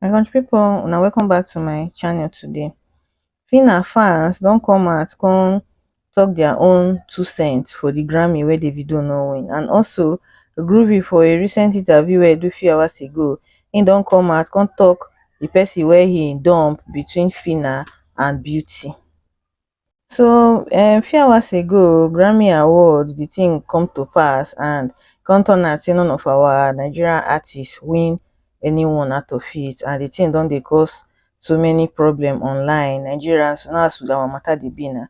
my country people now welcome back to my channel today Fina fans don't come out come talk their own two cents for the grammy where davido no win and also groovy for a recent interview where do few hours ago he don't come out come talk the person where he dump between Fina and beauty so um few hours ago grammy award di tin come to pass and e come turn out say none of our nigerian artiste win anyone out of it and di tin don dey cause so many problem online nigerians you know as our mata dey be na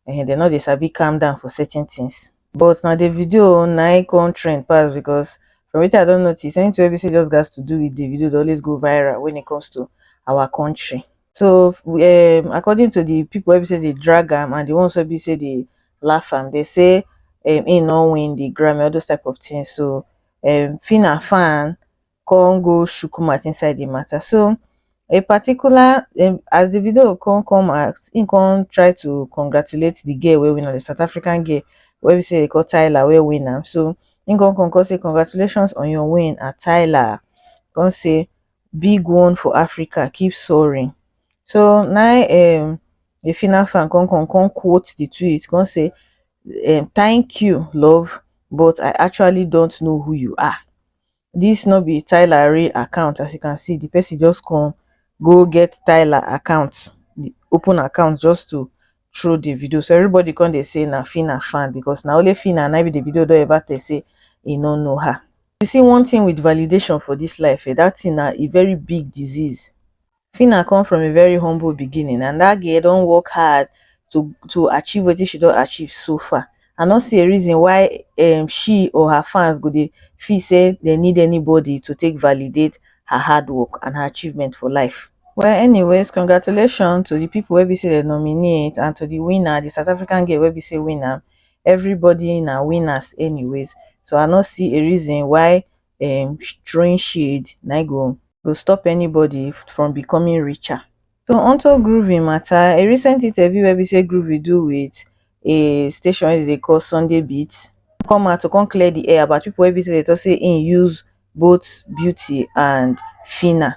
um dem no dey sabi calm down for certain tins but na davido own na im come trend pass because from wetin i don notice anything wey be say just ghats to do with davido dey always go viral when it comes to our country so um according to the people wey be say dey drag am and the ones wey be say dey laugh am dey say um im no win the grammy all those type of things so um Phyna fan come go shook mouth inside the matter. So a particular um, as the video come come out, he come try to congratulate the girl where winner, the South African girl where we say they call Tyler where winner. So he come come come say congratulations on your win at Tyler. Come say big one for Africa, keep soaring. So now um the final fan come come come quote the tweet, come say um, thank you, love, but I actually don't know who you are. this no be tyler real account as you can see the person just come go get tyler account open account just to throw the video so everybody come they say na fina fan because now only fina and i be the video don't ever they say he no know her you see one thing with validation for this life eh, that thing na a very big disease Phyna come from a very humble beginning and that girl don work hard to to achieve wetin she don achieve so far. I no see a reason why um she or her fans go dey feel say dem need anybody to take validate her hard work and her achievement for life. Well anyways congratulations to the people wey be say dem nominate and to the winner, the South African girl wey be say win am, everybody na winners anyways so I no see a reason why um throwing shade na im go go stop anybody from becoming richer so onto groovy matter a recent interview wey be say groovy do with a station wey dem dey call Sunday beat e come out to come clear the air about people wey be say dem talk say him use both beauty and phyna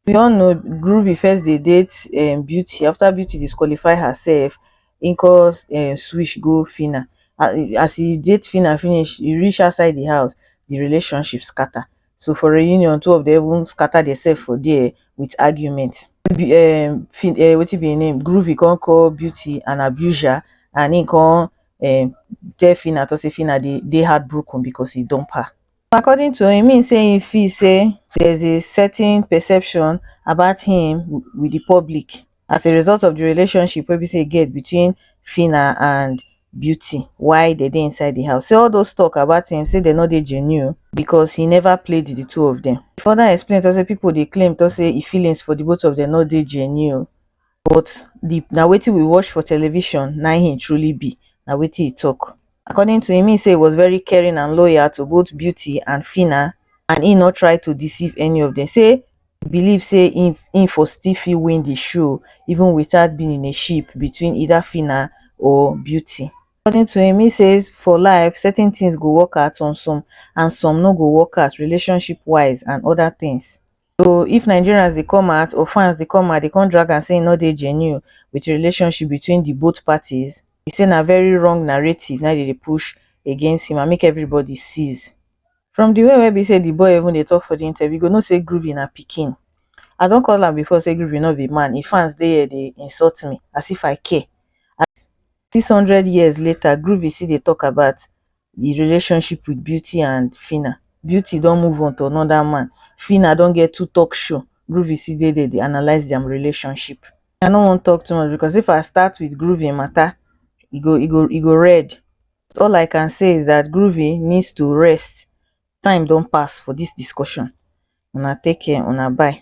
we all know groovy first dey date um beauty after beauty disqualify herself im come um switch go phyna as e date phyna finish e reach outside the house the relationship scatter so for reunion two of them even scatter themselves for there with argument um wetin be im name groovy come call beauty an abuser and im come um tell phyna talk say phyna dey dey heartbroken because he dump her According to him, him say him feel say there is a certain perception about him with the public as a result of the relationship wey be say e get between Phyna and Beauty while dem dey inside the house. Say all those talk about him say dem no dey genuine because he never played the two of them. He further explain talk say people dey claim talk say e feelings for the both of them no dey genuine. but di na wetin we watch for television na im e truly be na wetin e tok according to im e say e was very caring and loyal to both beauty and phyna and e no try to deceive any of dem say e believe say im im for still fit win di show even without being in a ship between either phyna or beauty according to im e say for life certain tins go work out on some and some no go work out relationship wise and oda tins So if Nigerians dey come out or fans dey come out dey come drag am say e no dey genuine with relationship between the both parties, e say na very wrong narrative na dey dey push against him and make everybody cease. From the way wey be say the boy even dey talk for the interview you go know say Groovy na pikin. I don call am before say Groovy no be man, him fans dey here dey insult me as if I care as six hundred years later Groovy still dey talk about the relationship with beauty and phyna beauty don move on to another man phyna don get two talk show groovy still dey there dey analyse their relationship i no wan talk too much because if i start with groovy matter e go e go e go red all i can say is that groovy needs to rest time don pass for this discussion una take care una bye